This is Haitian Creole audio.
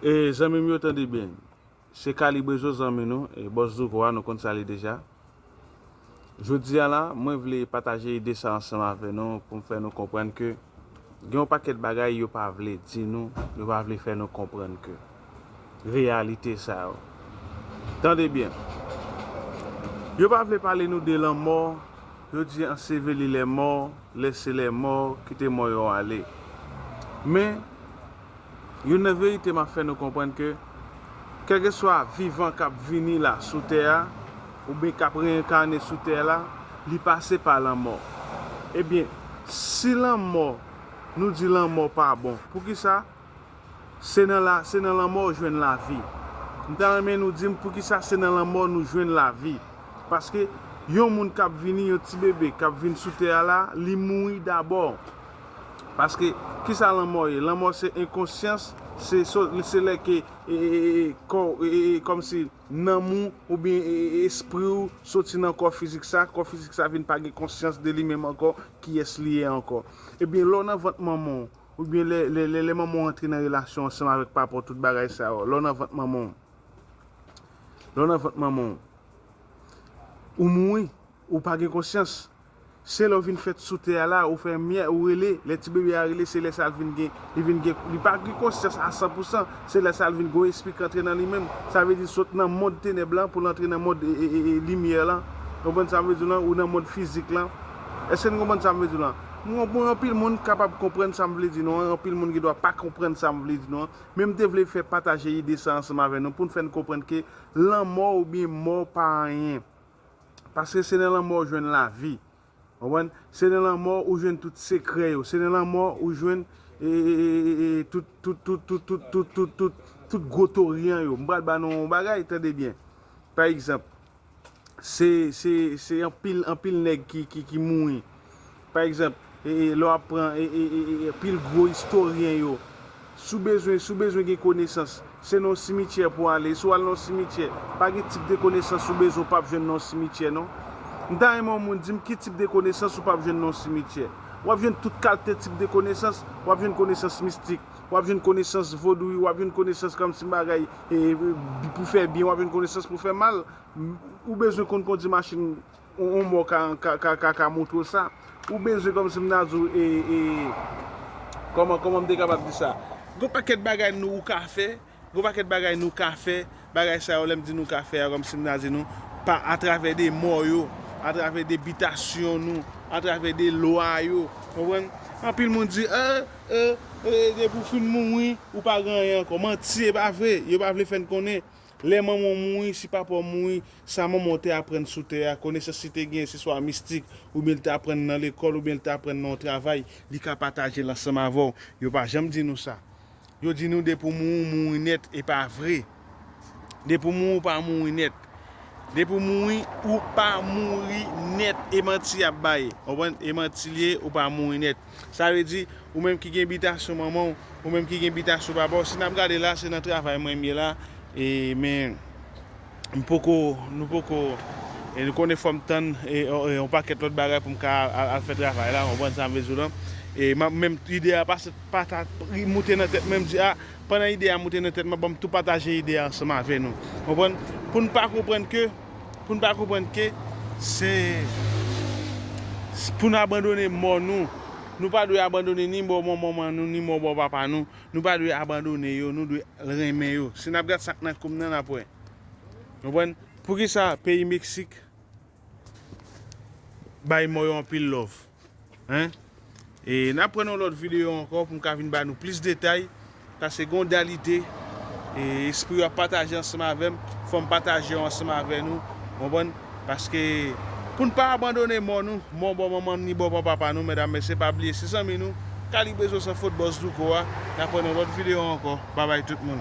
E zanmim yo tande byen se kalibrezo zanmi nou e bòs douko a nou konn sa li deja jodi an la mwen vle pataje ide sa ansanm avè nou poum fè nou konprann ke gen yon pakèt bagay yo pa vle di nou yo pa vle fè nou konprann ke reyalite sa yo tande byen yo pa vle pale nou de lanmò yo di anseveli lèmò. Lese les morts, kite mò yo ale. Men, youn nan verite m ap fè nou konprann ke kèlkeswa vivan k ap vini la sou tè a, oubyen k ap reenkane sou tè la, li pase pa lanmò. Ebyen, si lanmò, nou di lanmò pa bon, poukisa? Se nan la se nan lanmò ou jwenn lavi. M ta renmen nou di m poukisa se nan lanmò nou jwenn lavi. Paske yon moun k ap vini, yon ti bebe k ap vin sou tè a la, li mouri dabò. Paske ki sa lanmò ye? Lanmò se enkonsyans, se so se lè ke e e e e kò w e e e kòm si nanm ou oubyen e e e espri ou soti nan kò fizik sa, kò fizik sa vin pa gen konsyans de li menm ankò kiyès li ye ankò. Ebyen lè w nan vant manman w, Oubyen lè lè manman w antre nan relasyon ansanm avèk papa w tout bagay sa yo. Lè w nan vant manman w. Lè w nan vant manman w. Ou mouri. Ou pa gen konsyans. Se lè w vin fèt sou tè a la, ou fè myè, ou rele. Lè ti bebe a rele, se lè sa l vin gen, li vin gen, li pa gen konsyans a san pou san. Se lè sa l vin gon espri k antre nan li menm. Sa vle di sot nan mond tenèb lan pou l antre nan mond limyè lan. Konprann sa m vle di w lan? Ou nan mond fizik lan. Èske n konprann sa m vle di w lan? Mwen konnen anpil moun k kapab konprann sa m vle di nou an, anpil moun gen dwa pa konprann sa m vle di nou an, men m te vle fè pataje ide sa ansanm avè nou pou n fè n konprann ke lanmò oubyen mò pa anyen. Paske se nan lanmò ou jwenn lavi. Konprann? Se nan lanmò ou jwenn tout sekrè yo. Se nan lanmò ou jwenn tout, tout, tout, tout, tout, tout, tout, tout, tout gwo toryan yo. M pral ba nou yon bagay, tande byen. Pa egzanp. se se se anpil anpil nèg ki ki ki mouri pa egzanp e e lè wap pran e e e e pil gwo istoryen yo si w bezwen si w bezwen gen konesans se nan yon simityè pou w ale si w al nan yon simityè pa gen tip de konesans ou bezwen ou pap jwenn nan yon simityè non m ta renmen yon moun di m ki tip de konesans ou pap jwenn nan yon simityè wap jwenn tout kalte tip de konesans wap jwenn konesans mistik wap jwenn konesans vodou wi wap jwenn konesans kamsi bagay pou fè byen wap jwenn konesans pou fè mal ou bezwen konn kondi machin yon mò ka montre w sa ou bezwen kòmsi m ta di w e kòman m te kapab di sa gon pakèt bagay nou ou ka fè Gon pakèt bagay nou ka fè, bagay sa yo lè m di nou ka fè a kòmsi m ta di nou pa atravè de mò yo, atravè de bitasyon nou, atravè de lwa yo, konprann? Anpil moun di e, e, e depi w fin mouri ou pa gen anyen ankò. Manti e pa vre, yo pa vle fè n konnen lè manman w mouri, si papa w mouri, sa manman w te aprann sou tè a, konesans li te genyen se swa mistik oubyen li te aprann nan lekòl oubyen li te aprann nan yon travay, li ka pataje l ansanm avè w. Yo pa janm di nou sa. Yo di nou depi w mouri w mouri nèt e pa vre. Depi w mouri w pa mouri nèt. Depi w mouri ou pa mouri nèt e manti y ap bay. Ou konprann? E manti l ye ou pa mouri nèt. Sa vle di ou menm ki gen bitasyon manman w, ou menm ki gen bitasyon papa w, si n ap gade la se nan travay mwen m ye la e men. M poko, nou poko, e nou konnen fòm tann yon pakèt lòt bagay pou m ka al fè travay la, konprann sa m vle di w lan. E menm ide a pase pata moute nan tèt mwen, m di a, pandan ide a moute nan tèt mwen, ban m tou pataje ide a ansanm avè nou. Konprann? Pou n pa konprann ke, pou n pa konprann ke se pou n abandone mò nou. Nou pa dwe abandone ni mò manman nou, ni mò mò papa nou. Nou pa dwe abandone yo, nou dwe al renmen yo. Si n ap gad sa k nan kou m nan, n ap wè. Nou konprann? Poukisa peyi Meksik bay mò yo anpil lòv? Hein? E n ap pran yon lòt videyo ankò pou m ka vin ba nou plis detay, paske gen yon diyalite espri yo ap pataje ansanm avè m, fò m pataje yo ansanm avè nou. Konprann? Paske pou n pa abandone mò nou, mò bò manman n ni bò bò papa nou, medam mesye pa bliye se zanmi nou, Kalibezo san fot Bòs Douko a, n ap wè nan lòt videyo ankò, babay tout moun.